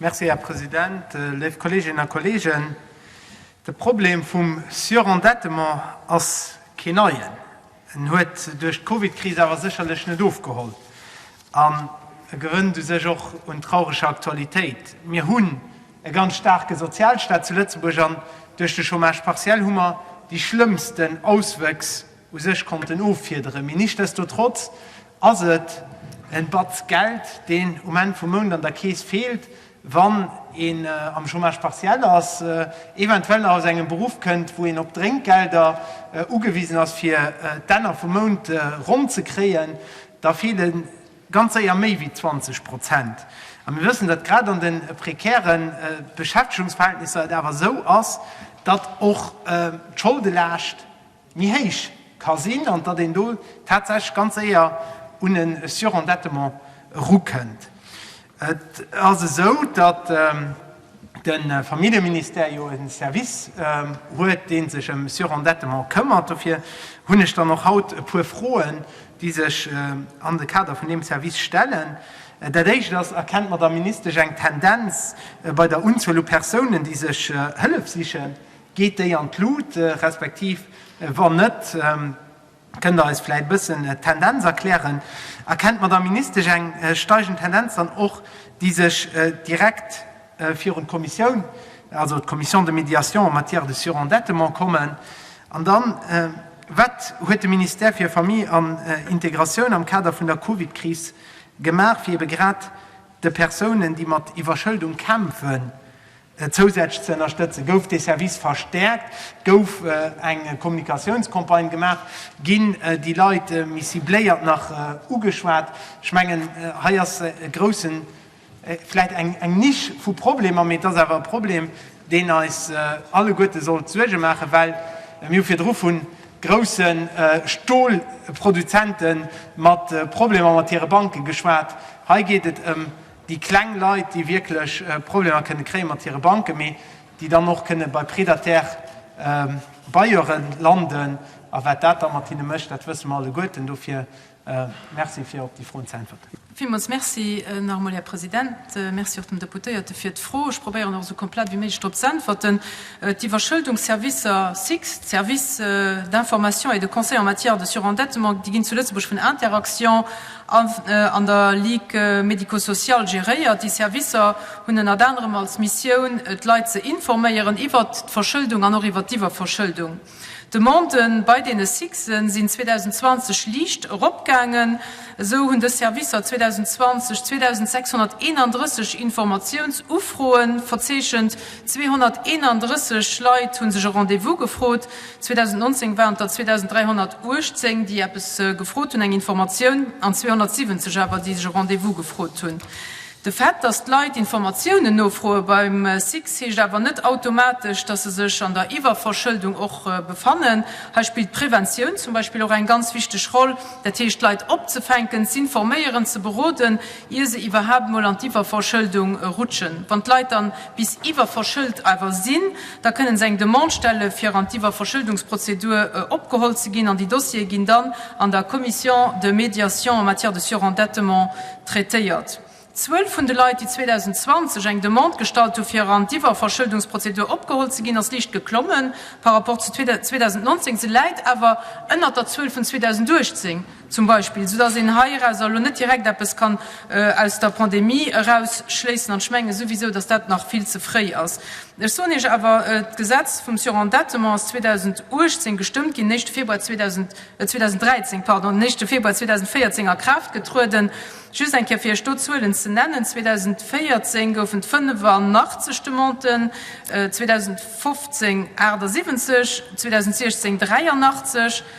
Merci, Här President. Léif Kolleeginnen a Kolleegen, de Problem vum Surendettement ass keen neien. En huet duerch d'Covidkris awer sécherlech net ofgeholl an e gewënnt u sech och un traureger Aktualitéit. Mir hunn e ganz staarke Sozialstaat zu Lëtzebuerg an duerch de Chômage partiel hu mer déi schlëmmsten Auswëchs u sech konnten offiederen. Mee nichtsdestotrotz ass et en Batz Geld, deen um Enn vum Mount an der Keess feelt, wann een am Chômage partiel ass, eventuell nach aus engem Beruff kënnt, wou een op Drénkgelder ugewisen ass, fir d'Enner vum Mount ronn ze kréien. Da feele ganz séier méi wéi 20 Prozent. A mir wëssen, datt grad an de prekäre Beschäftegungsverhältnisser et awer esou ass, datt och d'Scholdelaascht, méi héich ka sinn an datt een do tatsächlech ganz séier un e Surendettement erukënnt. Et ass esou, datt de Familljeministère jo e Service huet, dee sech ëm Surendettement këmmert. Dofir hunn ech dann och haut e puer Froen, déi sech an de Kader vun deem Service stellen. Dat Éischt ass, Erkennt d'Madamm Ministesch eng Tendenz bei der Unzuel u Persounen, déi sech Hëllef sichen? Geet déi an d'Lut, respektiv wann net, kënnt Der eis vläit e bëssen d'Tendenz erklären? Erkennt d'Madamm Ministesch eng steigend Tendenz dann och, déi sech direkt virun d'Kommissioun, also d'Commission de médiation en matière de surendettement, kommen? An dann, Wat huet de Ministère fir Famille an Integratioun am Kader vun der Covid-Kris gemaach, fir eebe grad de Persounen, déi mat Iwwerschëldung kämpfen, Zousätzlech ze ënnerstëtzen, gouf dee Service verstäerkt, et gouf eng Kommunikatiounscampagne gemaach, ginn déi Leit méi cibléiert nach ugeschwat. Ech mengen, hei ass e groussen, vläicht eng Niche vu Problemer, mee et ass awer e Problem, deen eis alleguerte sollt Suerge maachen, well mir hu virdru vu grousse Stolproduzente mat Problemer mat hire Banke geschwat. Hei geet et ëm déi kleng Leit, déi wierklech Problemer kënne kréie mat hire Banken, mee déi dann och kënne bei prédataire Bailleure landen. A wat dat da mat hinne mécht, dat wësse mer alleguerten. Dofir Merci, fir op déi Froen ze äntwerten. Villmools Merci nach emol, Här President. Merci och dem Deputéierte fir d'Fro. Ech probéieren och esou komplett ewéi méiglech drop z'äntwerten. D'Iwwerschëldungsservicer, SICS, Service d'information et de conseil en matière de surendettement, déi ginn zu Lëtzebuerg vun Interaction An der Ligue médico-sociale geréiert. Déi Servicer hunn ënnert anerem als Missioun, d'Leit ze informéieren iwwert d'Verschëldung an och iwwert d'Iwwerverschëldung. D'Demande bei deene SICSe sinn 2020 liicht eropgaangen. Esou hunn dës Servicer 2020 2.631 Informatiounsufroe verzeechent, 231 Leit hu sech e Rendez-vous gefrot, 2019 waren et der 2.318, déi eppes gefrot hunn, eng Informatioun, an 270 awer, déi sech e Rendez-vous gefrot hunn. De Fait, datt d'Leit Informatiounen nofroe beim SICS, heescht awer net automatesch, datt se sech an der Iwwerverschëldung och befannen. Hei spillt d'Preventioun zum Beispill och eng ganz wichteg Roll, dat heescht, d'Leit opzefänken, z'informéieren, ze beroden, ier se iwwerhaapt emol an d'Iwwerverschëldung rutschen. Wann d'Leit dann bis iwwerverschëlt awer sinn, Da kënnen se eng Demande stelle fir an d'Iwwerverschëldungsprozedur opgeholl ze ginn an déi Dossiere ginn dann an der Commission de médiation en matière de surendettement traitéiert. D'Zuel vun de Leit, déi 2020 eng Demande gestallt hu fir an d'Iwwerverschëldungsprozedur opgeholl ze ginn, ass liicht geklommen par rapport zu 2019. Se läit awer ënnert der Zuel vun 2018. Zum Beispill, esou dass een heiraus elo net direkt eppes kann aus der Pandemie erausschléissen. An ech menge souwisou, dass dat nach vill ze fréi ass. Ech soen Iech awer, D'Gesetz vum Surendettement ass 2018 gestëmmt ginn, den éischte Februar 2013, pardon, den éischte Februar 2014 a Kraaft getrueden. Just eng Kéier fir Iech do d'Zuelen ze nennen, 2014 goufen et 85 Demanden, 2015 78, 2016 83,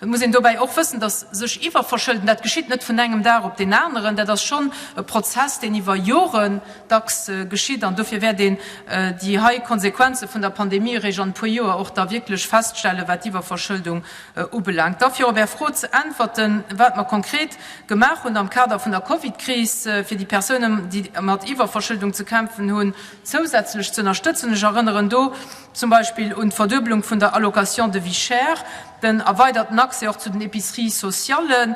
Et muss een dobäi och wëssen, dass sech iwwerverschëlden, dat geschitt net vun engem Dag op deen aneren. Dat ass schonn e Prozess, deen iwwer Joren dacks geschitt. An dofir wäert een déi hei Konsequenze vun der Pandemie eréischt an e puer Joer och da wierklech feststellen, wat d'Iwwerverschëldung ubelaangt. Da fir op Är Fro ze äntwerten, wat mer konkret gemaach hunn am Kader vun der Covid-Kris, fir déi Persounen, déi mat Iwwerverschëldung ze kämpfen hunn, zousätzlech ze ënnerstëtzen. Ech erënneren do zum Beispill un d'Verdueblung vun der Allocation de vie chère, den erweiderten Accès och zu den Epiceries sociallen,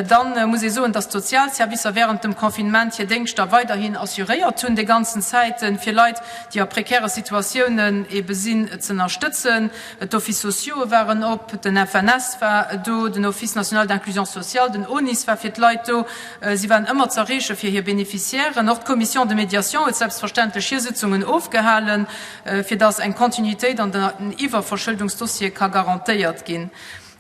dann muss ee soen, dass d'Sozialservicer während dem Confinement hir Déngschter weiderhin assuréiert hunn, déi ganzen Zäiten, fir Leit, déi a prekäre Situatiounen ebe sinn, z'ënnerstëtzen. D'Office sociaux waren op, den FNS war do, den Office national d'inclusion sociale, den ONIS war fir d'Leit do, si waren ëmmer z'erreeche fir hir Bénéficiairen. Och d'Commission de médiation huet selbstverständlech hir Sitzungen ofgehalen. fir dass eng Kontinuitéit an den Iwwerverschëldungsdossiere ka garantéiert ginn.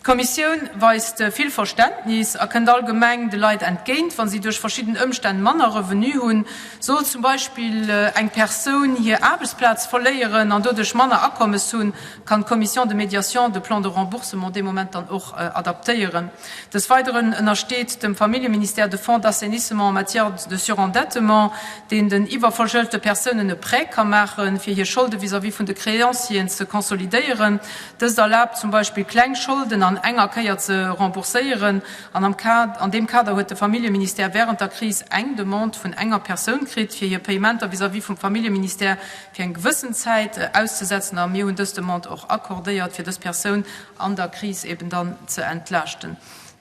D'Kommissioun weist vill Verständnis a kënnt allgemeng de Leit entgéint, wa si duerch verschidden Ëmstänn manner Revenu hunn. Sollt zum Beispill eng Persoun hir Aarbechtsplaz verléieren an doduerch manner Akommes hunn, kann d'Commission de médiation de plan de remboursement dee Moment dann och adaptéieren. Des Weideren ënnersteet dem Familljeministère de Fonds d'assainissement en matière de surendettement, deen den iwwerverschëldete Persounen e Prêt ka maachen, fir hir Scholde vis-à-vis vun de Créancieren ze konsolidéieren. Dëst erlaabt zum Beispill, kleng Scholden an enger Kéier ze rembourséieren. An am Kader, an deem Kader huet de Familljeministère wärend der Kris eng Demande vun enger Persoun kritt, fir hir Payementer vis-à-vis vum Familljeministère fir eng gewëssen Zäit auszesetzen. A mir hunn dës Demande och accordéiert, fir dës Persoun an der Kris eben dann ze entlaaschten.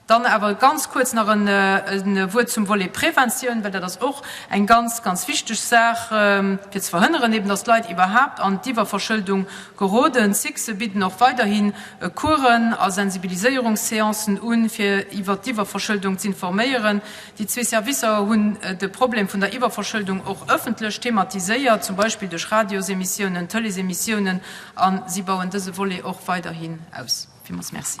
Dann awer ganz kuerz nach e Wuert zum Volet Preventioun, well dat ass och eng ganz, ganz wichteg Saach, fir ze verhënneren eben, dass d'Leit iwwerhaapt an d'Iwwerverschëldung geroden. D'Sice bidden och weiderhi Coursen a Sensibiliséierungsseancen un, fir iwwert d'Iwwerverschëldung z'informéieren. Déi zwee Servicer hunn de Problem vun der Iwwerverschëldung och ëffentlech thematiséiert, zum Beispill duerch Radiosemissionen, Tëleesemissiounen A si bauen dëse Volet och weiderhin aus. Villmools Merci.